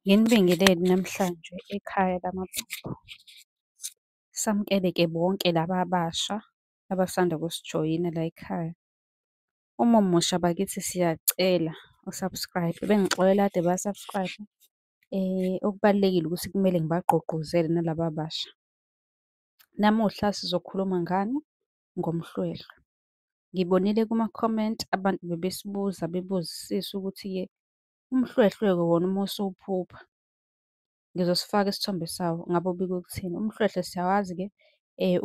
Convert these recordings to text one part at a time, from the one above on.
Nginibingelele namhlanje ekhaya lamaphupho. Samukele-ke bonke laba abasha abasanda kusijoyina layikhaya. Uma umusha bakithi siyacela u-subscribe, bengixolela kade ba-subscribe. Okubalulekile ukuthi kumele ngibagqugquzele nalaba abasha. Namuhla sizokhuluma ngani? Ngomhlwehlwe. Ngibonile kuma-comment abantu bebesibuza bebuzisisa ukuthi-ke Umhlwehlwe-ke wona uma usuwuphupha, ngizosifaka isithombe sawo, ngabe ubike ukuthini? Umhlwehlwe siyawazi-ke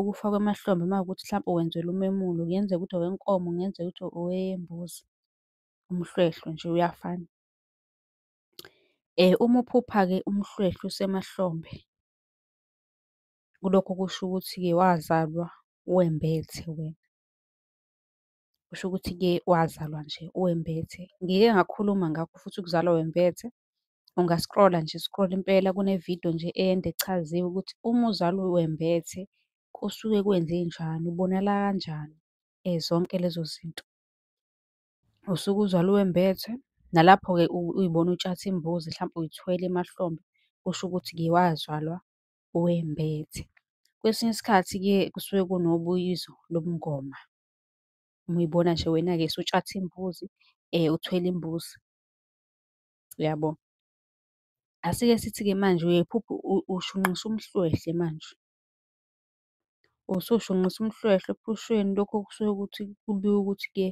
ukufa kwemahlombe uma kuwukuthi mhlampe wenzelwa umemulo, kungenzeka ukuthi owenkomo, kungenzeka ukuthi owembuzi, umhlwehlwe nje uyafana. Uma uphupha-ke umhlwehlwe usemahlombe, kulokho kusho ukuthi-ke wazalwa wembethe wena. kusho ukuthi-ke wazalwa nje uwembethe. Ngike ngakhuluma ngakho futhi ukuzalwa wembethe. Unga-scroll-a nje, scroll impela kune-video nje ende echaziwe ukuthi uma uzalwa wembethe kusuke kwenzenjani, ubonakala kanjani, zonke lezo zinto. Usuke uzalwa uwembethe, nalapho-ke uyibona utshatha imbuzi hlampe uyithwele emahlombe, kusho ukuthi-ke wazalwa uwembethe. Kwesinye isikhathi-ke kusuke kunobuyizo lobungoma. Uma uyibona nje wena-ke usutshatha imbuzi, uthwele imbuzi. Uyabo? Asike sithi-ke manje uyephupha ushunqisa umhlwehlwe manje. Usushunqisa umhlwehlwe ephusheni lokho kusuke ukuthi kubikwa ukuthi-ke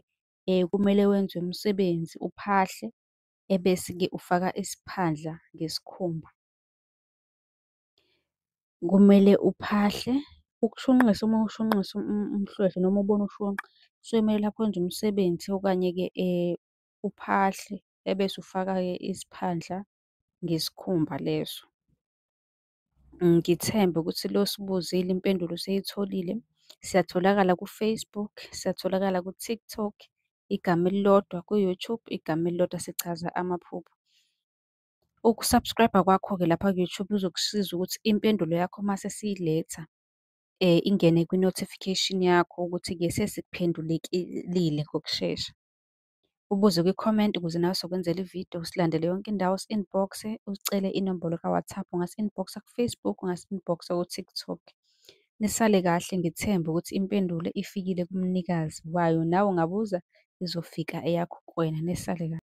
kumele wenze umsebenzi uphahle, ebese-ke ufaka isiphandla ngesikhumba. Kumele uphahle, ukushunqisa uma ushunqisa umhlwehlwe noma ubona ushunqa kusuke kumele lapho wenze umsebenzi okanye-ke uphahle ebese ufaka-ke isiphandla ngesikhumba leso. Ngithembe ukuthi lo osibuzile impendulo useyitholile. Siyatholakala ku-Facebook, siyatholakala ku-TikTok, igama elilodwa ku-YouTube, igama elilodwa sichaza amaphupho. Uku-subscribe-a kwakho-ke lapha ku-YouTube kuzokusiza ukuthi impendulo yakho uma sesiyiletha ingene kwi-notification yakho ukuthi-ke sesikuphendulekile ngokushesha. Ubuze kwi-comment ukuze nawe sokwenzela ividiyo, usilandele yonke indawo, usi-inbox, usicele inombolo ka-WhatsApp, ungasi-inbox-a ku-Facebook, ungasi-inbox-a ku-TikTok. Nisale kahle, ngithembe ukuthi impendulo ifikile kumnikazi wayo, nawe ungabuza izofika eyakho kuwena. Nisale kahle.